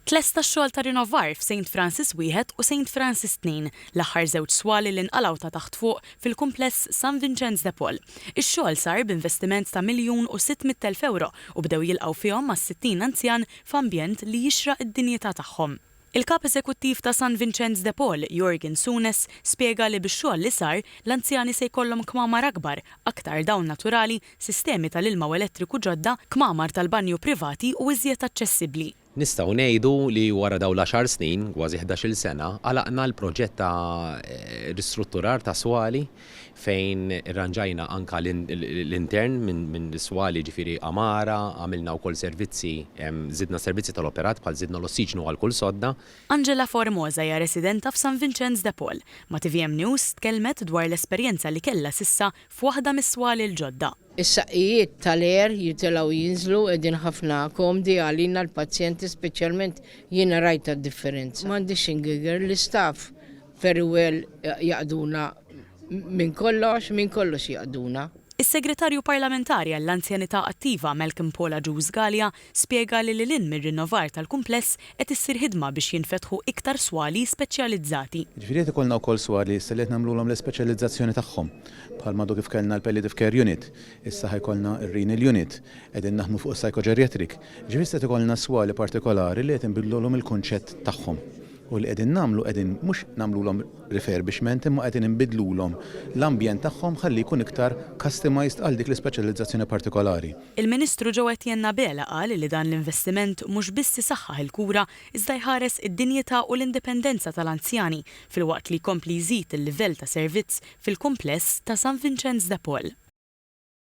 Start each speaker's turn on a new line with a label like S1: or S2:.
S1: Tlesta x-xogħol ta' rinovar f'Saint Francis Wieħed u Saint Francis Tnejn, l-aħħar żewġ swali li nqalgħu ta' taħt fuq fil-kumpless San Vinċenz de Paul. Ix-xogħol sar b'investiment ta' miljun u sitt mitt elf ewro u bdew jilqgħu fihom mas-sittin anzjan f'ambjent li jixraq id-dinjità tagħhom. Il-Kap Eżekuttiv ta' San Vinċenz de Paul, Yorgen Souness, spjega li bix-xogħol li sar, l-anzjani se jkollhom kmamar akbar, aktar dawn naturali, sistemi tal-ilma u elettriku ġodda, kmamar tal-banju privati u iżjed aċċessibbli. Nistgħu ngħidu
S2: li wara dawn l-għaxar snin, kważi ħdax-il sena, għalaqna l-proġett ta' ristrutturar ta' swali fejn irranġajna anke l-intern minn swali jiġifieri għamara, għamilna wkoll servizzi, żidna s-servizzi tal-operat bħal żidna l-ossiġnu għal kull sodda. Angela Formosa
S1: hija residenta f'San Vinċenz de Paul, ma' tvm News tkellmet dwar l-esperjenza li kellha s'issa f'waħda mis-swali l-ġodda. Is-saqqijiet
S3: tal-air jitilgħu jinżlu qegħdin ħafna komdi għalina l-pazjenti speċjalment jiena rajtha d-differenza. M'għandix x'ingigher l-istaff very well jaqduna minn kollox, minn kollox jaqduna. Is-Segretarju
S1: Parlamentari għall-Anzjanità Attiva Malcolm Paul Agius Galea Spjega li lil hinn mir-rinnovar tal-kumpless qed issir ħidma biex jinfetħu iktar swali speċjalizzati. Jiġifieri qed ikollna wkoll
S4: swali issa li qed nagħmlulhom l-ispeċjalizzazzjoni tagħhom. Bħalma għadu kif kellna l-palliative care unit, issa ħa jkollna r-renal unit, qegħdin naħdmu fuq is-psychogeriatric. Jiġifieri issa qed ikollna swali partikolari li qed inbiddlulhom il-kunċett tagħhom. U li qegħdin nagħmlu qegħdin mhux nagħmlulhom refurbishment imma qegħdin inbiddlulhom l-ambjent tagħhom ħalli jkun iktar customized għal dik l-ispeċjalizzazzjoni partikolari. Il-Ministru Joe
S1: Etienne Abela qal li dan l-investiment mhux biss isaħħaħ il-kura iżda jħares id-dinjità u l-indipendenza tal-anzjani filwaqt li jkompli jżid il-livell ta' servizz fil-kumpless ta' San Vinċenz de Paul.